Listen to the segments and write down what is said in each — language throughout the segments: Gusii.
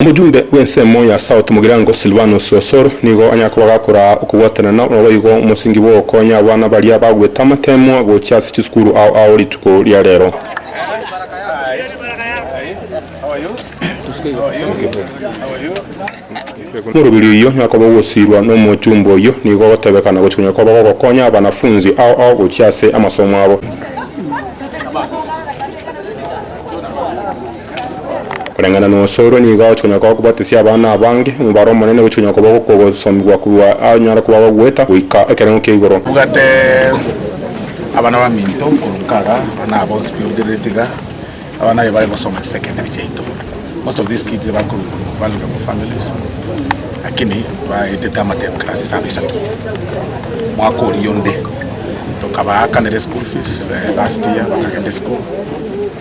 Omochumbe bw'ensemo ya South Mugirango Silvanus Osoro nigo anyare kobagakora okobwatanana naboigo omosingi bw'ogokonya abana baria bagwete amateemwa gochia ase chisukuru ao ao rituko ria rero. Omoroberio oyio nigo akoba ogosiirwa n'omochumbe oyio nigo ogotebekana gochia konyara koba gogokonya abanafunzi ao ao gochia ase amasomo abo. Koreng'ana nosorwe nigo ogochia konya koba kobatesia abana abange omobaro omonene gochia konya koba gokogosomigwa korwa anyare koba agogweta goika ekerengo kia igoro. Bwate abana baminto korwa nkaga buna aba bonsi orugererete iga, abana aye bare gosoma chisecondary chiaito. Most of these kids bare korwa vulnerable families lakini baetete amatem class isano isato. Omwaka oria onde tokabaakanera eschool fees last year bakagenda eschool.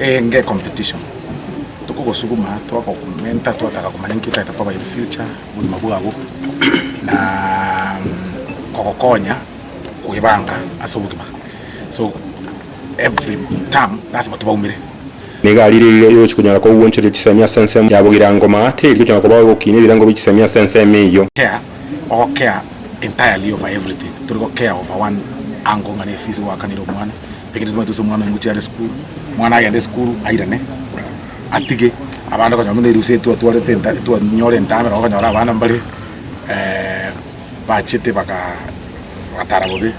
enge competition tokogosuguma twagokomenta twataka komanya nki otagete koba in future obogima bwabo na kogokonya kwebanga ase obogima so every term lasima tobaumere. Nigo ari rirorio erio ochikonyara kogwonchoria chisemi ase ensemo yabo girango maa teri gokonyara kobao gokiinia ebirango bie chisemi ase ensemo eyio. Care, ogo care entirely over everything, tori go care over one angle ng'a ne fees gwakanire omwana. Ekero twabate ase omwana omochie are esukuru, omwana agende esukuru airane, atige abande okonyora buna erusia etwatwarete enta etwanyore entang'ani nabo okonyora abana mbare bachete baka bagatara bobe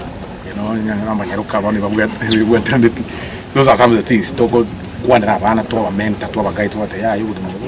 no onye na amanyaroka bono ebabwate ebabwataneti those are some of the things tokokwanera abana twaba mentor twaba guide twabatebia yaya obogima obo.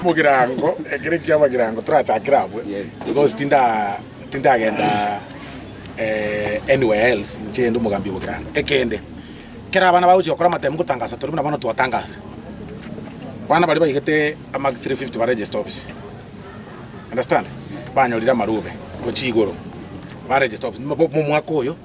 Omogirango, ekero ekiya amagirango torachakire abwo, because tinda tindagenda eh, anywhere else inche inde omogambi obogirango. Ekende, ekero abana bagochia gokora amatemu gotangasa tore buna bono twatangasa, abana baria baigete ama 350 ba register office, understand, banyorire amarube gochia igoro, ba register office, mo- mo- momwaka oyo.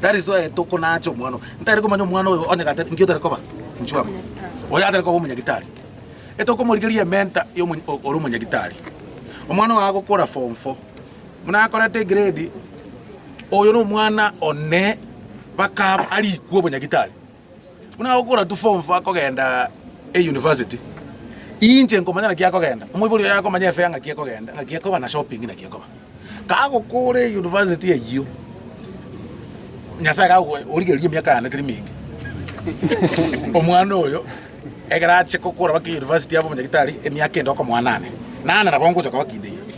That is why tokonaacha omwana oyo. Ntari komanya omwana oyo onye gatari nki otari koba nchwama. Oyo atari koba omonyagitari. Etokomorigeria ementa ya omo ore omonyagitari. Omwana oyo agokora form 4. Muna akorete egrade oyo no omwana one baka arikwe obonyagitari. Buna agokora tu form four akogenda eyunivasiti, inche nkomanya naki akogenda, omoibori oye akomanya efea ng'aki ekogenda, ng'aki ekoba na shopping naki ekoba. Kagokora eyunivasiti eyio, Nyasaye kago origereria emiaka yane teri menge. Omwana oyo ekero ache kokora baka eyunivasiti abe omonyagitari, emiaka ende okomoanane, nane nabo ngocha koba kinde eyio.